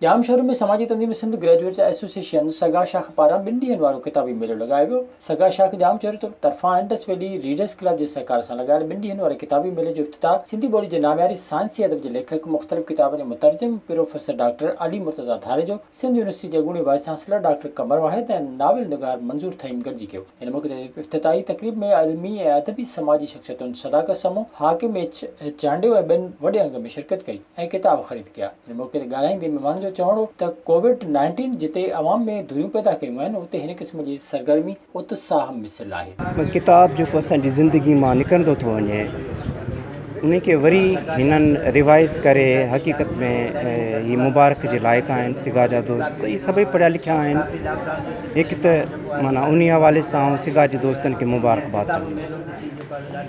ڄام شوري ۾ سماجي تنظيم Sindh graduates association سگا شاخ پاران ٻن ڏينهن وارو ڪتابي ميلو لڳايو ويو. سگا شاخ ڄام شوري طرفان انڊس ويلي ريڊرس ڪلب جي سهڪار سان لڳايل ٻن ڏينهن واري ڪتابي ميلي جو افتتاح سنڌي ٻولي جي نامياري سائنسي ادب جي ليکڪ مختلف ڪتابن جي مترجم professor doctor Ali Murtaza Dharejo Sindh university جي اڳوڻي vice chancellor doctor Qamar Wahid ۽ novel نگار منظور ٿهيم گڏجي ڪيو. هن موقعي تي افتتاحي تقريب ۾ علمي ۽ ادبي سماجي شخصيتن صداقت سمون، حاڪم ايڇ ايڇ چانڊيو ۽ ٻين وڏي انگ ۾ شرڪت ڪئي ۽ ڪتاب خريد ڪيا. هن موقعي تي ڳالهائيندي مهمانن جو چوڻ هو ته ڪووڊ نائنٽين جتي عوام ۾ ڌريون پيدا ڪيون آهن اتي هن قسم جي سرگرمي اتساهه مثل آهي. ٻه ڪتاب جيڪو اسان جي زندگي مان نڪرندو ٿو وڃي انهي کي وري هنن ريوائز ڪري حقيقت ۾ هي مبارڪ جي لائق آهن سگا جا دوست هي سڀئي پڙهيا لکيا آهن هڪ ته معنيٰ انهي حوالي سان آئون سگا جي دوستن کي مبارڪ باد چوندس.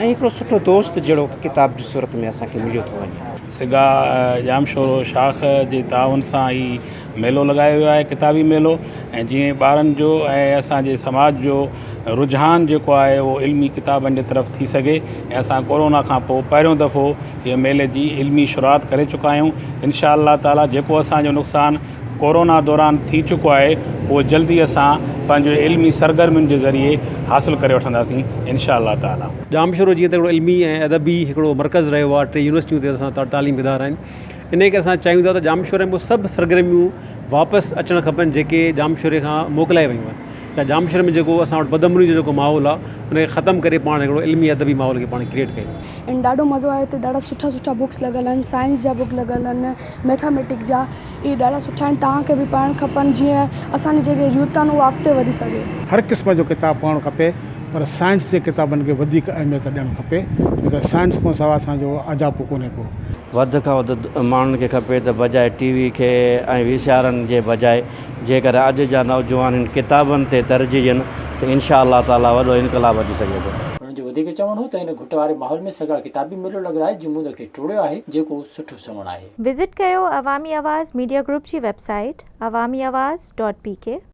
۽ هڪڙو سٺو دوست جهڙو ڪتاب جي صورت ۾ اسان کي مليو ٿو وڃي. سگا ڄام شورو شاخ جي تعاون سان هي ميلو لڳايو ويو آهي ڪتابي ميلو ۽ جيئن ٻارن جو ۽ اسان جي سماج جو رجحان جيڪو آهي اهو علمي ڪتابن جي طرف ٿي سگهي ۽ اسان ڪورونا کان پوء پهريون دفعو هي ميلي جي علمي شروعات ڪري چڪا آهيون انشاء الله تعاليٰ جيڪو اسان جو نقصان ڪورونا دوران ٿي چڪو آهي اهو جلدي اسان پنهنجو علمي سرگرمين جي ذريعي حاصل ڪري وٺنداسين انشاء الله تعالٰي. ڄامشورو جيئن ته هڪڙو علمي ۽ ادبي هڪڙو مرڪز رهيو آهي ٽي يونيورسٽيون تي اسان وٽ تعليم ادارا آهن انهي ڪري اسان چاهيون ٿا ته ڄامشوري ۾ سڀ سرگرميون واپس اچڻ کپن جيڪي ڄامشوري کان موڪلائي ويون آهن ته ڄامشوري ۾ جيڪو اسان وٽ بد امني جو جيڪو ماحول آهي ان کي ختم ڪري پاڻ هڪڙو علمي ادبي ماحول کي پاڻ ڪريئيٽ ڪيون ۽ ڏاڍو مزو آيو هتي ڏاڍا سٺا سٺا بڪس لڳل آهن سائنس جا بڪ لڳل آهن ميٿاميٽڪ جا اهي ڏاڍا سٺا آهن توهان کي به پڙهڻ کپن جيئن اسان جي جيڪي يوٿ آهن اها اڳتي وڌي سگهي. هر قسم جو ڪتاب پڙهڻ کپي پر سائنس جي ڪتابن کي وڌيڪ اهميت ڏيڻ کپي ڇو ته سائنس کان سواء اسان جو اجاپو ڪونهي ڪو. وڌ کان وڌ ماڻهن کي کپي ته بجاء ٽي وي کي ۽ وي سي آرن جي بجاء جيڪر اڄ جا نوجوان هن ڪتابن تي ترجيح ڏين ته انشاء الله تعالي وڏو انقلاب اچي سگهي ٿو. هنن جو وڌيڪ چوڻ هو ته هن گهٽ واري ماحول ۾ سگها ڪتابي ميلو لڳرائي جمود کي ٽوڙيو آهي جيڪو سٺو. سنئوڻ آهي. وزٽ ڪيو عوامي آواز ميڊيا گروپ جي website Awami Awaz dot P ڪي.